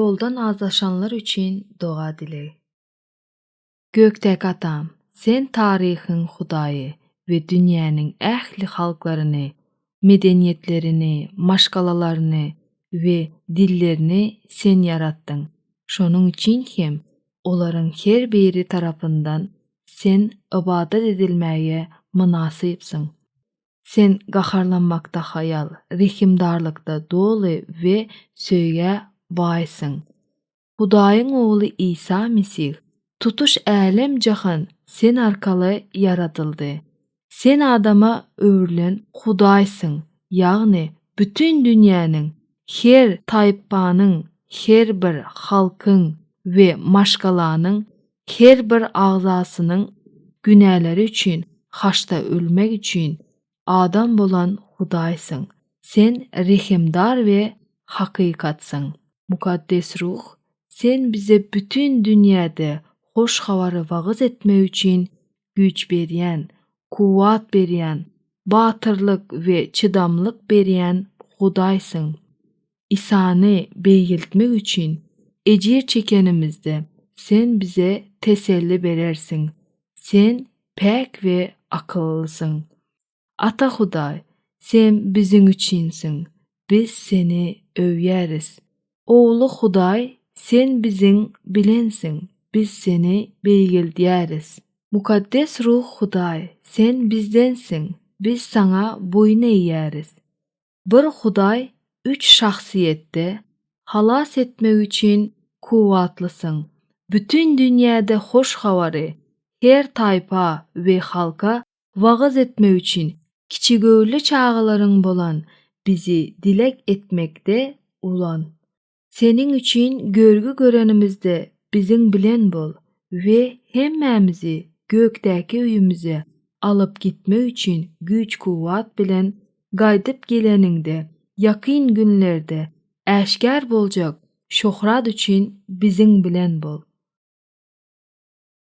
Ýoldan azlaşanlar üçin doga dileg. Gökdäki Atam, Sen taryhyň Hudaýy we dünýäniň ähli halklaryny, medeniýetlerini, maşgalalaryny we dillerini Sen ýaratdyň, şonuň üçin hem olaryň her biri tarapyndan Sen ybadat edilmäge mynasypsyň. Sen gaharlanmakda haýal, rehimdarlykda doly we söýgä baýsyň. Hudaýyň Ogly Isa Mesih, tutuş älem-jahan Sen arkaly ýaradyldy. Sen adama öwrülen Hudaýsyň, ýagny bütin dünýäniň, her taýpanyň, her bir halkyň we maşgalanyň Her bir agzasynyň günäleri üçin haçda ölmek üçin adam bolan Hudaýsyň. Sen rehimdar we hakykatsyň. Mukaddes Ruh, Sen bize bütin dünýäde hoş habary wagyz etmek üçin güýç berýän, kuwwat berýän, batyrlyk we çydamlyk berýän Hudaýsyň. Isany beýgeltmek üçin ejir çekenimizde Sen bize teselli berersiň. Sen päk we akyllysyň. Ata Hudaý, Sen biziň üçinsiň, biz Seni öwýäris. Ogly Hudaý, Sen biziň bilensiň, biz Seni beýgeldýäris. Mukaddes Ruh Hudaý, Sen bizdensiň, biz Saňa boýun eýýäris. Bir Hudaý üç şahsyýetde halas etmek üçin kuwwatlysyň, bütin dünýäde hoş habary her taýpa we halka wagyz etmek üçin kiçigöwünli çagalaryň bolan bizi dilek etmekde ulan. Seniň üçin görgi görenimizde biziň bilen bol we hemmämizi gökdäki öýümize alyp gitmek üçin güýç-kuwwat bilen gaýdyp geleniňde ýakyn günlerde äşgär boljak şöhrat üçin biziň bilen bol.